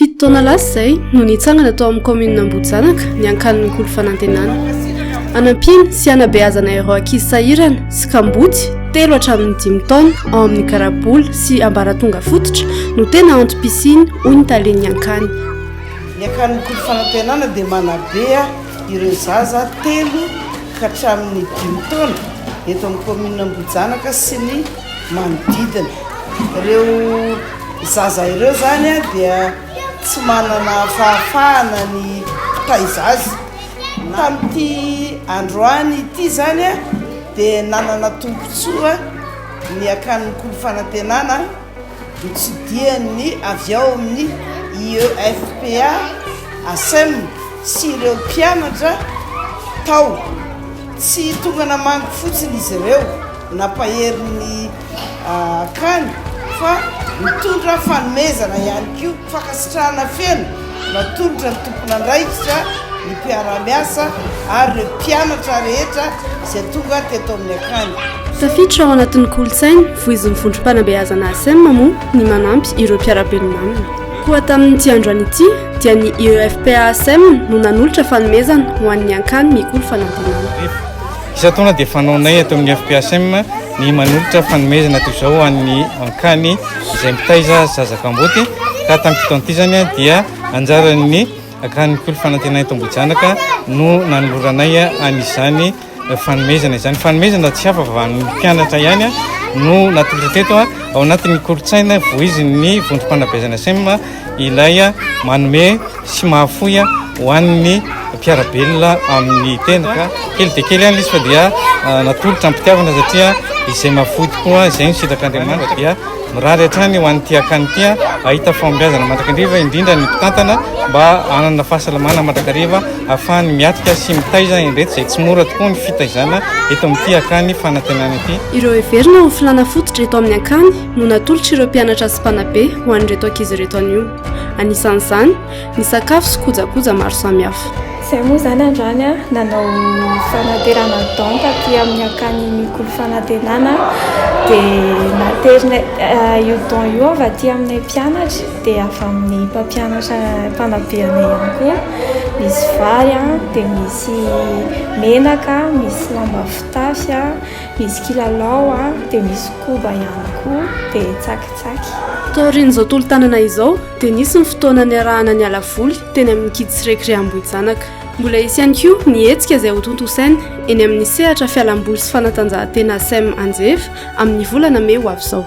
Fito taona lasa izay no nitsangana tao amin'ny kaominina Ambohijanaka ny ankanin'ny kolo fanantenana. Anampiana sy hanabeazana ireo ankizy sahirana sy kamboty telo hatramin'ny dimy taona ao amin'ny garabola sy ambaratonga fototra no tena antom-pisiany hoy ny talen'ny ankany. Ny ankanin'ny kolo fanantenana dia manabe Ireo zaza telo ka hatramin'ny dimy taona eto amin'ny kaominina Ambohijanaka sy ny manodidina. Ireo zaza ireo izany dia tsy manana fahafahana ny hitaiza azy. Tamin'ity androany ity izany dia nanana tombontsoa ny akany Mikolo Fanantenana. Notsidihany avy ao amin'ny IEFPA, Asem, sy ireo mpianatra tao. Tsy tonga namangy fotsiny izy ireo nampahery ny akany fa nitondra fanomezana ihany koa. Fankasitrahana feno natolotra ny tompon'andraikitra, ny mpiara-miasa ary ireo mpianatra rehetra izay tonga teto amin'ny akany. Tafiditra ao anatin'ny kolontsaina voizin'ny vondrom-panabeazana ASEM moa ny manampy ireo mpiara-belona aminy. Koa tamin'ity andro any ity dia ny IEFPA ASEM no nanolotra fanomezana ho an'ny Ankany Mikolo Fanantenana. Isan-taona dia fanaonay eto amin'ny FPHM ny manolotra fanomezana toy izao ho an'ny ankany izay mitaiza zaza kamboty ka tamin'ny fito an'ity izany dia anjaran'ny akan'ny Mpitory Fanantenana eto Ambohijanaka no nanoloranay an'izany fanomezana izany. Fanomezana tsy hafa fa an'ny mpianatra ihany no natolotra teto ao anatin'ny kolontsaina voizin'ny vondrom-panabeazana SEM ilay manome sy mahafoy ho an'ny mpiara-belona amin'ny tena ka kely dia kely ihany izy fa dia ah, natolotra am-pitiavana satria izay mahafoy tokoa izay no sitrak'Andriamanitra dia mirary hatrany ho an'ity akany ity ah, ahita fahombiazana mandrakariva indrindra ny mpitantana mba hanana fahasalamana mandrakariva ahafahany miatrika sy mitaiza indreto izay tsy mora tokoa ny fitaizana eto amin'ity akany fanantenana ity. Ireo heverina ho filàna fototra eto amin'ny akany no natolotr'ireo mpianatra sy mpanabe ho an'ireto ankizy ireto anio. Anisan'izany ny sakafo sy kojakoja maro samihafa. Izay moa izany androany a, nanao fanaterana don taty amin'ny akany mikolo fanantenana dia naterina eh, io don io avy aty aminay mpianatra dia avy amin'ny mpampianatra mpanabe anay ihany koa. Misy vary a, dia misy menaka, misy lamba fitafy a. Misy kilalao a, dia misy koba ihany koa, dia tsakitsaky. Taorian'izao tolo-tanana izao dia nisy ny fotoana niarahana niala voly teny amin'ny Kids Recré Ambohijanaka. Mbola hisy ihany koa ny hetsika izay hotontosaina eny amin'ny sehatra fialamboly sy fanatanjahantena Sem Anjeva amin'ny volana mey ho avy izao.